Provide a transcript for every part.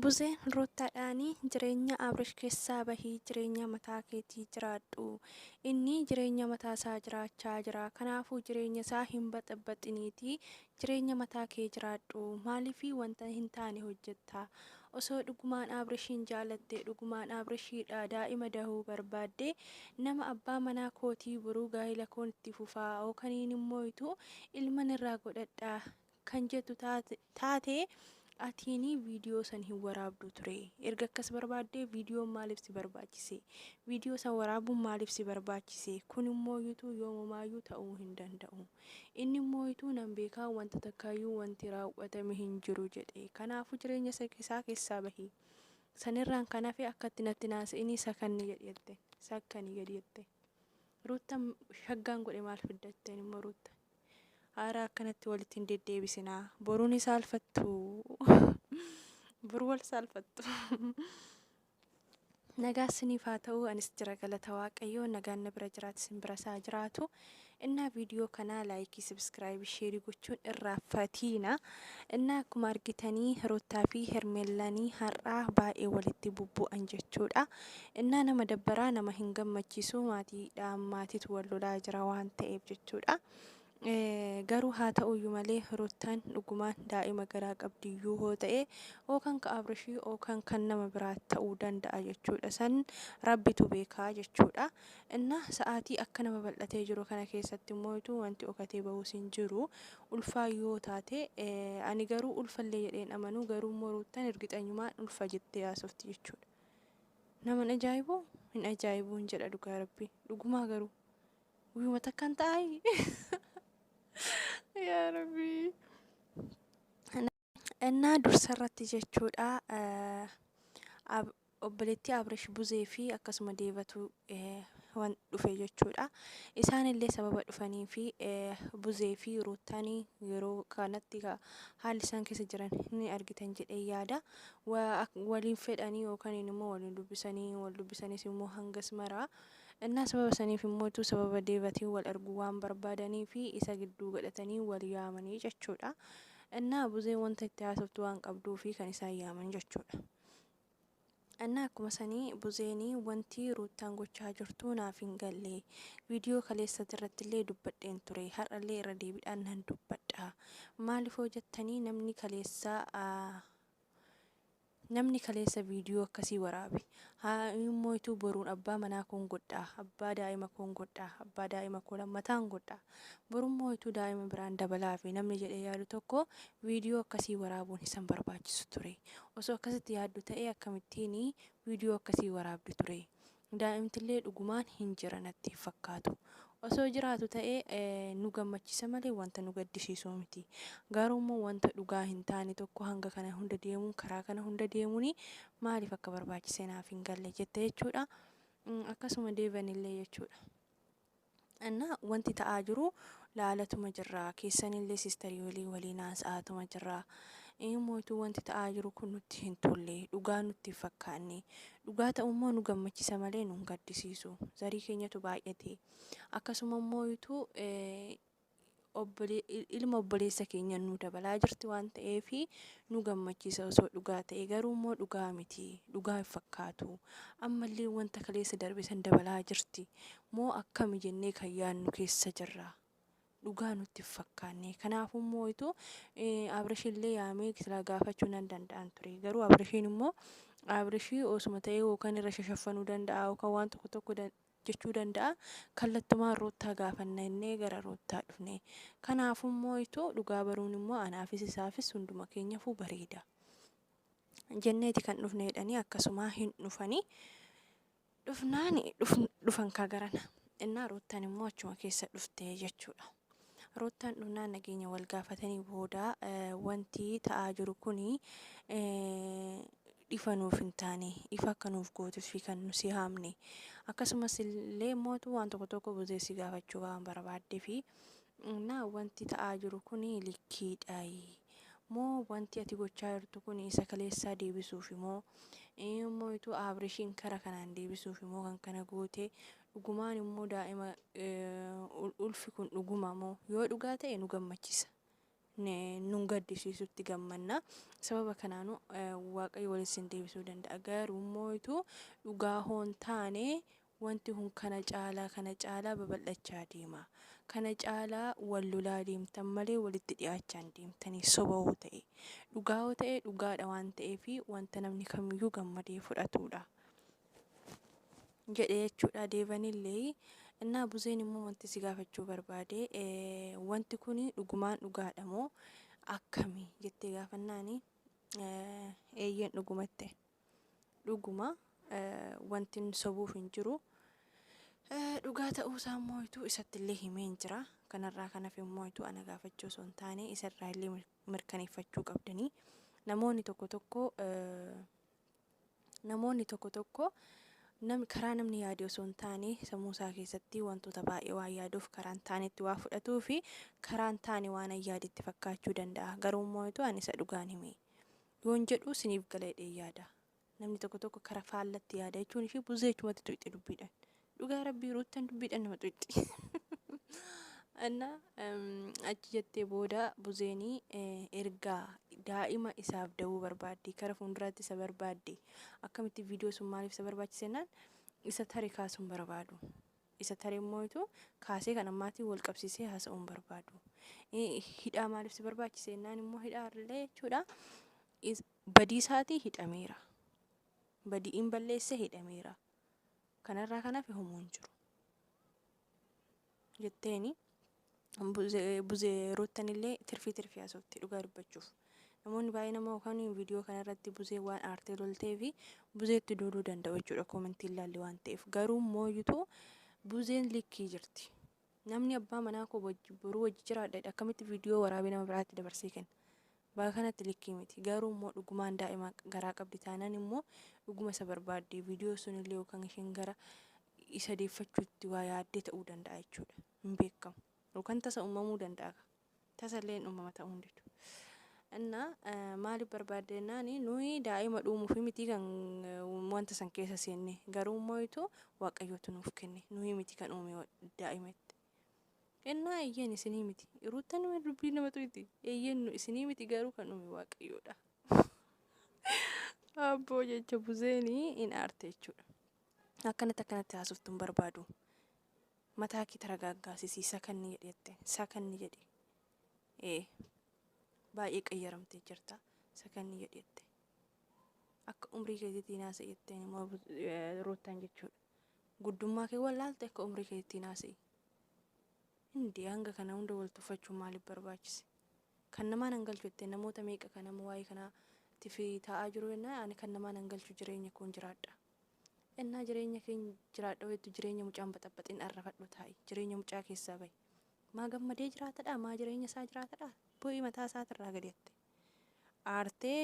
Buzee ruttaa dhaanii jireenya abrish kessaa bahii jireenya mataa keetii jiraadhu innii jireenya mataa isaa jiraachaa jiraa kanaafuu jireenya isaa hin baxabaxiniitii jireenya mataa kee jiraadhu maaliifii wanta hin taane hojjetta osoo dhugumaan abrishiin jaalatte dhugumaan abrishiidha daa'ima dahuu barbaadde nama abbaa manaa kootii boruu gaa'ila koon itti fufaa ookaniin immoo ituu ilman irraa godhadha kan jettu taate atiini viidiyoo san hin waraabdu ture erga akkas barbaaddee viidiyoon maaliif si barbaachise viidiyoo san waraabuun maaliif si barbaachise kun immoo yutuu yoomumaayyuu ta'uu hin danda'u inni immoo yutuu nan beekaa wanta takkaayyuu wanti raawwatame hin jiru jedhe kanaafuu jireenya isaa keessaa bahi sanirraan kan hafe akkatti natti naasa'inii sakanni jedhi jette sakkani jedhi jette ruutta shaggaan godhe maal fidda jetteen immoo ruutta Aaraa akkanatti walitti hin deddeebisinaa. Boruu ni saalfattu. Bor wal saalfattu. Nagaa isiniif haa ta'u anis jira galata waaqayyoo nagaan na bira jiraatu isin bira isaa jiraatu innaa viidiyoo kanaa laayikii sabiskiraayibii sheerii gochuun irraa fatiina innaa akkuma argitanii roottaa fi hermeellanii har'aa baay'ee walitti bubbu'an jechuudha Innaa nama dabbaraa nama hin gammachiisuu maatiidhaan maatitu wal lolaa jira waan ta'eef jechuudha. Garuu haa ta'uyyuu malee ruttaan dhugumaan daa'ima garaa qabdiyyuu hoo ta'e ookan ka abrishii ookan kan nama biraa ta'uu danda'a jechuudha san rabbitu beekaa jechuudha. Innaa sa'aatii akkana babal'atee jiru kana keessatti immoo ituu wanti okatee bahuus hin jiru ulfaa yoo taate ani garuu ulfallee jedheen amanuu garuu immoo ruuttan ergixanyumaan ulfa jettee haasofti jechuudha. naman ajaa'ibu hin ajaa'ibu hin jedha dhugaa rabbi dhugumaa garuu guyyuma takkaan ta'aayi yaa rabbi innaa dursa irratti jechuudha obboleettii abrish buzee fi akkasuma deebatu wan dhufe jechuudha. Isaan illee sababa dhufanii fi buzee fi ruuttaan yeroo kanatti haalli isaan keessa jiran ni argitan jedhee yaada. Waliin fedhanii yookaan immoo waliin dubbisanii wal dubbisanis immoo hangas maraa. Innaa sababa saniif immoo sababa deevatiin wal arguu waan barbaadanii fi isa gidduu godhatanii wal yaamanii jechuudha. Innaa buzee wanta itti haasoftu waan qabduu fi kan isaan yaaman jechuudha. Anna akkuma sanii buzeeni wanti ruuttaan gochaa jirtuu naaf hin galle viidiyoo kaleessati irrattillee dubbadheen ture har'allee irra deebidhaan nan dubbadha maalifoo jettanii namni kaleessa namni kaleessa viidiyoo akkasii waraabe haa immoo ituu boruun abbaa manaa koon godhaa abbaa daa'ima koon godhaa abbaa daa'ima koo lammataan godhaa Borummoo utuu daa'ima biraan dabalaafi namni jedhee yaadu tokko viidiyoo akkasii waraabuun isa hin barbaachisu ture. Osoo akkasitti yaaddu ta'ee akkamittiin viidiyoo akkasii waraabdi ture? Daa'imtillee dhugumaan hin jira natti hin fakkaatu. Osoo jiraatu ta'e nu gammachiisa malee wanta nu gaddisiisu miti. Garuummoo wanta dhugaa hin taane tokko hanga kana hunda deemuun karaa kana hunda deemuun maaliif akka barbaachise naaf hin galle jette jechuudha. Akkasuma Deevanillee jechuudha. እና wanti ta'aa jiru laalatuma jirra keessanillee sistarii walii waliin haasa'aatuma jirra mootuu wanti ta'aa jiru kun nutti hin tolle dhugaa nutti hin fakkaanne dhugaa ta'ummoo nu gammachisa malee nu hin gaddisiisu zarii keenyatu baay'ate akkasuma immoo ituu ilma obboleessa keenyaan nu dabalaa jirti waan ta'eef nu gammachiisa osoo dhugaa ta'e garuu immoo dhugaa miti dhugaa hin fakkaatu ammallee wanta kaleessa darbe san dabalaa jirti moo akkami jennee kan yaadnu keessa jirra dhugaa nutti hin fakkaanne kanaafuu immoo itu abrashillee yaamee silaa gaafachuu nan danda'an ture garuu abrashiin immoo abrashii osuma ta'ee yookaan irra shashaffanuu danda'a yookaan waan tokko tokko jechuu danda'a. Kallattumaan Ruuttaa gaafanna jennee gara Ruuttaa dhufne. Kanaafuu immoo ituu dhugaa baruun immoo anaafis isaafis hunduma keenyafuu bareeda. Jenneeti kan dhufne jedhanii akkasumaa hin dhufanii. Dhufnaan dhufan kaa garana. Innaa Ruuttaan immoo achuma keessa dhufte jechuudha. Ruuttaan dhufnaan nageenya wal gaafatanii booda wanti ta'aa jiru kuni ifa nuuf hin taane ifa akka nuuf gootufi kan nu si haamne akkasumas illee mootu waan tokko tokko buzee si gaafachuu waan barbaaddefi na wanti ta'aa jiru kun likkiidhaayi moo wanti ati gochaa jirtu kun isa kaleessaa deebisuufi moo immoo ituu aabrishiin kara kanaan deebisuufi moo kan kana goote dhugumaan immoo daa'ima ulfi kun dhuguma moo yoo dhugaa ta'e nu gammachisa nun gaddisiisutti gammanna. Sababa kanaanu Waaqayyo walitti sin deebisuu danda'a. Garuu immoo ituu dhugaa hoon taane wanti kun kana caalaa kana caalaa babal'achaa deema. Kana caalaa wal lolaa deemtan malee walitti dhiyaachaa hin deemtanii soba hoo ta'e. Dhugaa hoo ta'e dhugaadha waan ta'eef wanta namni kamiyyuu gammadee fudhatuudha. jedhe jechuudha deevanillee innaa buzeen immoo wanti si gaafachuu barbaade wanti kun dhugumaan dhugaadha moo akkami jettee gaafannaani eeyyeen dhugumatti dhuguma wanti sobuuf hin jiru dhugaa ta'uu isaa immoo ituu isatti illee himeen jira kanarraa kanaaf immoo ituu ana gaafachuu osoo hin taane isarraa illee mirkaneeffachuu qabdanii namoonni tokko tokko Namoonni tokko tokko nam, karaa namni yaade osoo hin taane sammuu isaa keessatti wantoota baay'ee waan yaaduuf karaa hin taanetti waa fudhatuu fi karaa hin taane waan an yaade itti fakkaachuu danda'a. Garuu immoo etu ani isa dhugaan hime. Yoon jedhu siniif gala jedhee yaada. Namni tokko tokko kara faallatti yaada jechuun ishee buzee jechumatti tuqxe dubbiidhaan. Dhugaa rabbii ruuttan dubbiidhaan nama xuqxi. Anna achi jettee booda buzeenii ergaa daa'ima isaaf da'uu barbaaddi kara fuulduraatti isa barbaadde akkamitti viidiyoo sun maaliif isa barbaachisennaan isa tare kaasuun barbaadu. Isa tare immoo itu kaasee kan ammaatii wal qabsiisee haasa'uun barbaadu. Hidhaa maaliif si barbaachise ennaan immoo hidhaa illee jechuudha. Badii isaatii hidhameera. Badiin balleesse hidhameera. kanarraa kan hafe homoo hin jiru jetteeni buzee ruuttan illee tirfii tirfii haasofte dhugaa dubbachuuf namoonni baay'een ammoo kan viidiyoo kanarratti buzee waan aartee loltee fi buzeetti duuluu danda'u jechuudha koomentiin laalli waan ta'eef garuu mooyutu buzeen likkii jirti Namni abbaa manaa koo wajji boruu wajji jiraadha jedhe akkamitti viidiyoo waraabee nama biraatti dabarsee kenna? Baga kanatti likkii miti. Garuu immoo dhugumaan daa'ima garaa qabdi taanaan immoo dhuguma isa barbaadde viidiyoo sun illee yookaan isheen gara isa deeffachuutti waa yaaddee ta'uu danda'a jechuudha. Hin beekamu. Yookaan tasa uumamuu danda'a. tasallee hin uumama ta'uu hin didu. Inna maaliif barbaadde jennaani nuyi daa'ima dhuumuufi miti kan wanta san keessa seenne garuu mooyitu waaqayyootu nuuf kenne nuyi miti kan uume daa'imetti. Innaa eeyyeen isinii miti ruutta nama dubbii nama tuyiti eeyyeen nu isinii miti garuu kan uume waaqayyoodha. Abboo jecha buzeeni hin aarte jechuudha. Akkanatti akkanatti haasoftu hin barbaadu. Mataa kee taragaaggaasisii sakanni jedhi jetteen. Sakanni jedhi. Ee. Baay'ee qayyaramtee jirta. Sakanni jedhi jette. Akka umrii keetiitii naasa jetteen immoo ruuttan jechuudha. Guddummaa kee wallaalte akka umrii keetiitii naasa'ii. Hindi hanga kana hunda wal tuffachuun maaliif barbaachise? Kan namaa nan galchu jettee namoota meeqa kan amma waa'ee kanaa tifi taa'aa jiru jennaan ani kan namaa nan galchu jireenya koon jiraadha. Ennaa jireenya kee jiraadha beektu jireenya mucaa hin baxabaxin arrafadhu taa'i jireenya mucaa keessaa bahi. Maa gammadee jiraatadhaa maa jireenya isaa jiraatadhaa bu'i mataa isaatirraa gadi atte. Aartee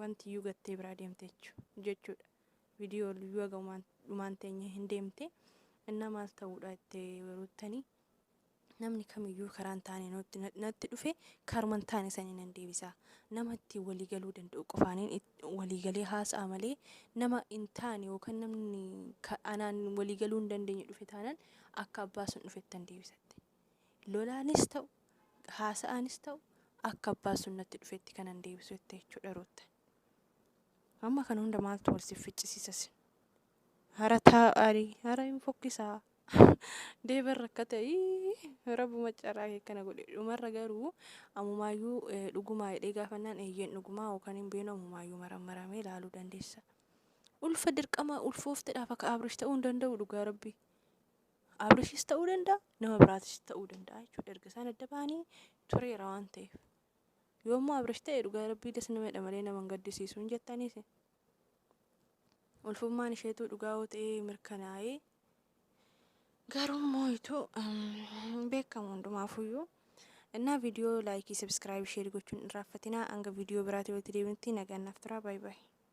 wanti iyyuu gattee biraa deemte jechu- jechuudha. Viidiyoo iyyuu haga umaan- dhumaan teenye hin deemte. Innaa maal ta'uudha itti ruuttanii Namni kamiyyuu karaa hin taane nutti- na- natti dhufe karuma hin taane sanii nan deebisa. Nama ittiin walii galuu danda'u qofaaniin it- walii galee haasa'a malee nama hin taane yookaan namni ka- anaan walii galuu hin dandeenye dhufe taanaan akka abbaa sun dhufettan deebisatte. Lolaanis ta'u, haasa'aanis ta'u akka abbaa sun natti dhufetti kanan deebisu jette jechuudha Ruutta. Amma kana hunda maaltu wal siif ficcisiisa sin? Hara taa'ari hara hin fokkisaa deeban rakkata ii, rabbuma carraa kee kana godhe dhumarra garuu amumaayyuu eh, dhugumaa jedhee gaafannaan eeyyeen dhugumaa yookaan hin beenu amumaayyuu marammaramee ilaaluu dandeessa ulfa dirqama ulfooftedhaaf akka abrish ta'uu hin danda'u dhugaa rabbii abrishis ta'uu danda'a nama biraatis ta'uu danda'a jechuudha erga isaan adda ba'anii tureera waan ta'eef yoommoo abrish ta'e dhugaa rabbii das nama jedha malee nama hin gaddisiisu hin jettaniis Ulfummaan isheetuu dhugaa yoo ta'ee mirkanaa'ee garuu mooyitu beekamu hundumaafuyyuu. Innaa viidiyoo laayikii, sabskiraayib, sheerii gochuun irraaffatinaa hanga viidiyoo biraatti walitti deebinutti nagaan naaf turaa baay'ee.